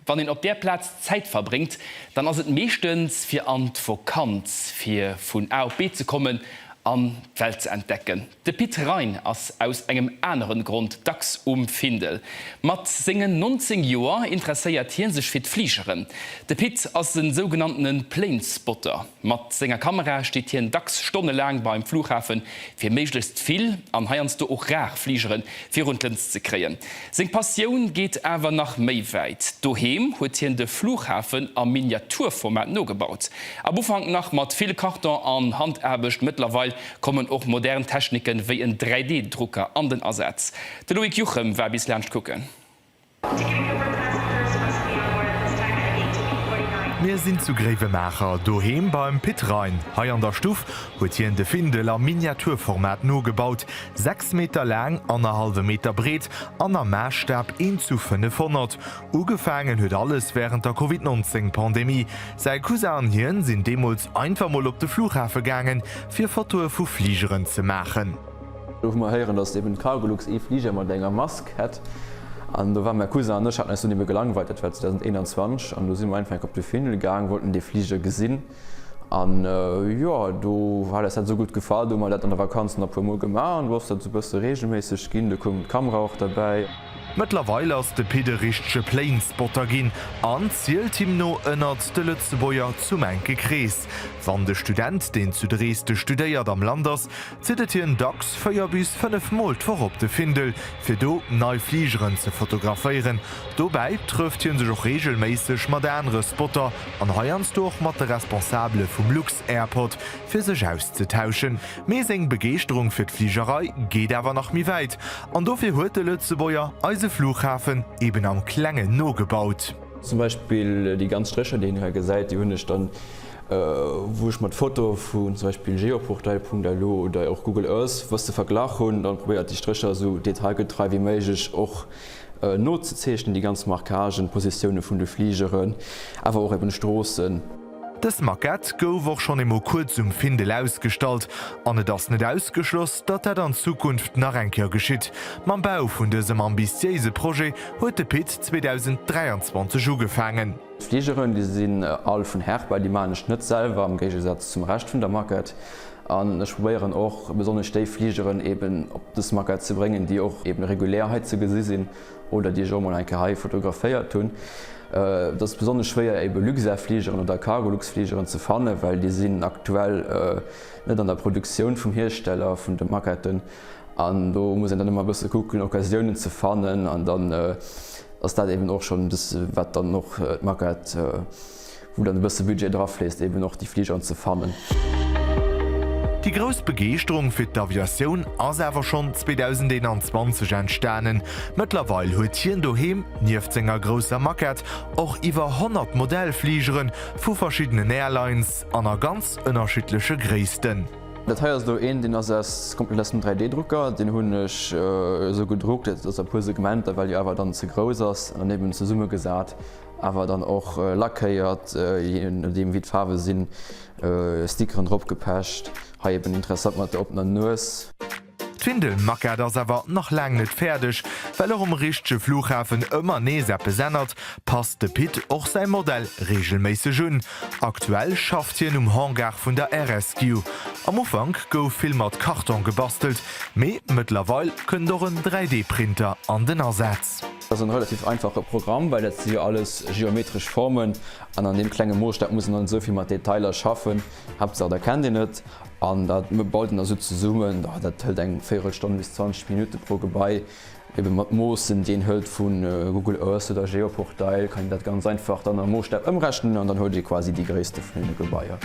Wann een op där Plaz Zäit verbréngt, dann ass et meeschtens fir an d'Vokanz, fir vun A op B ze kommen an d'Welt ze entdecken. De Pit Rein ass aus engem aneren Grond dacks um Findel. Mat sengen 19 Joer interesséiert hie sech fir d'Fligeren. De Pit ass e sougenanntene Planespotter. Mat senger Kamera steet hien dacks stonnelaang beim Flughafen, fir méiglechst vill, an heiansdo och rar, Fligeren virun d'Lëns ze kréien. Seng Passioun geet awer nach méi wäit. Doheem huet hien de Flughafen am Miniaturformat nogebaut. Am Ufank nach mat vill Karton an Handaarbecht, mëttlerweil kommen och modern Techniken, wéi en 3D-Drucker an den Asaz. De Loïc Juchem war bis laanscht kucken. Mir sinn zu Gréiwemaacher, doheem beim Pit Rein. Hei an der Stuff huet hien de Findel am Miniaturformat nogebaut, 6 Meter laang, annerhallwe Meter breet an am Maasstaabb 1 zu 500. Ugefaangen huet alles wärend der Covid 19 Pandemie. Säi Cousin an hien sinn deemools einfach mol op de Flughafe gaangen, fir Fotoe vu Fligeren ze maachen. Gouf mer héieren, dass eben d'Cargolux ee Fliger mat enger Mask hätt, an do war mäi Cousin an ech haten eis dunn ebe gelangweilt, dat war 2021, an do si mer einfach enk op de Findel gaang, wollten dee Fliger gesinn, an jo, do hat eis dat esou gutt gefall, do hu mer dat an der Vakanz nach e puer mol gemaach, an do ass dat esou e bësse reegelméisseg ginn, do koum d'Kamera och derbäi. Mëttlerweil ass de Pit e richtege Planespotter ginn an zielt him no ënnert de Lëtzebuerger zum enke Krees. Wann de Student, deen zu Dresde studéiert, am Land ass, zitt et hien dacks 4 bis 5 Mol d'Woch op de Findel, fir do nei Fligeren ze fotograféieren. Dobäi trëfft hie sech och reegelméisseg mat anere Spotter an heiansdo och mat de Responsabele vum Lux-Airport, fir sech auszetauschen. Mee seng Begeeschterung fir d'Fligerei geet awer nach méi wäit, an dofir huet de Lëtzebuerger eise Flughafen eben am Klengen nogebaut. Zum Beispill déi ganz Strécher, déi een hei gesäit, déi hunn ech dann, wou ech mer d'Foto vun zum Beispill geoportail.lu oder och Google Earth bësse verglach hunn, dann probéiert déi Strécher esou detailgetrei wéi méiglech och nozezeechnen, déi ganz Marquagen, d'Positioune vun de Fligeren, awer och eben Stroossen. Dës Maquette gouf och schonn eemol kuerz um Findel ausgestallt an et ass net ausgeschloss, datt dat an Zukunft nach eng Kéier geschitt. Mam Bau vun dësem ambitiéise Projet huet de Pit 2023 ugefaangen. D'Fligeren, déi sinn all vun Herpa, déi maachen ech net selwer, am Géigesaz zum Rescht vun der Maquette. An ech probéieren och besonnesch déi Fligeren eeben op dës Maquette ze bréngen, déi och eeben regulär hei ze gesi sinn. oder déi ech och mol eng Kéier hei fotograféiert hunn. Et ass besonnesch schwéier ebe Luxair-Fligeren oder Cargolux-Fligeren ze fannen, well déi sinn aktuell net an der Produktioun vum Hiersteller vun de Maquetten. An do muss een dann ëmmer e bësse kucken, Occasiounen ze fannen. An dann ass dat eeben och schonn e bësse wat dann och d'Maquette. wou dann e bësse Budget drafléisst, eben och déi Fligeren ze fannen. Déi grouss Begeeschterung fir d'Aviatioun ass awer schonn 2021 entstanen. Mëttlerweil huet hien doheem, nieft senger grousser Maquette, och iwwer 100 Modellfligere vu verschiddenen Airlines an a ganz ënnerschiddleche Gréissten. Dat hei ass elo een, deen ass aus komplett aus dem 3D-Drucker. Deen hunn ech esou gedruckt, dat ass a puer Segmenter, well déi Awer dann ze grouss ass, an eben zesummegesat. Awer dann och lackéiert, jee nodeem wéi d'Faarwe sinn, Stickeren drop gepecht. Hei eben interessant mat der oppener Nues. D'Windelmaquette ass awer nach laang net fäerdeg, well och um richtege Flughafen ëmmer nees eppes ännert, passt de Pit och säi Modell reegelméisseg un. Aktuell schafft hien um Hangar vun der Air-Rescue. Am Ufank gouf vill mat Karton gebastelt, mee mëttlerweil kënnt och en 3D-Printer an den Asaz. Dat ass en relativ einfache Programm, well dat si jo alles geometresch Formen an an deem klenge Moosstap muss een dann net esou vill mat Detailer schaffen. Haaptsaach der kennt een et an da baut een dat esou zesummen. Jo dat hëlt eng Véierelstonn bis 20 Minutte pro Gebai. Ebe mat Moossen déi een hëlt vu Google Earth oder Geoportail kann een dat ganz einfach dann am Moosstap ëmrechnen an dann huet ee quasi déi Gréisste vun deene Gebaier.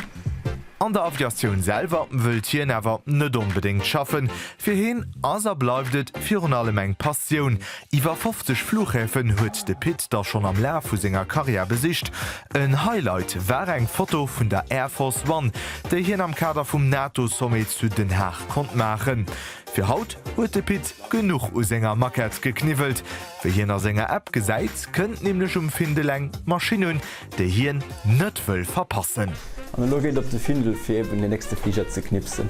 An der Aviatioun selwer wëllt hien awer net onbedéngt schaffen. Fir hien ass a bleift et virun allem eng Passioun. Iwwer 50 Fluchhäfen huet de Pit da schonn am Laf vu senger Karriär besicht. En Highlight war eng Foto vun der Air Force One, déi hien am Kader vum NATO-Sommet zu Den Haag konnt maachen. Fir haut huet de Pit genuch u senger Maquette gekniwwelt. Wéi hien a senger App gesäit, kënnt nämlech um Findel eng Maschinn un, déi hien net wëll verpassen. An elo geet et op de Findel fir eben den nächste Fliger ze knipsen.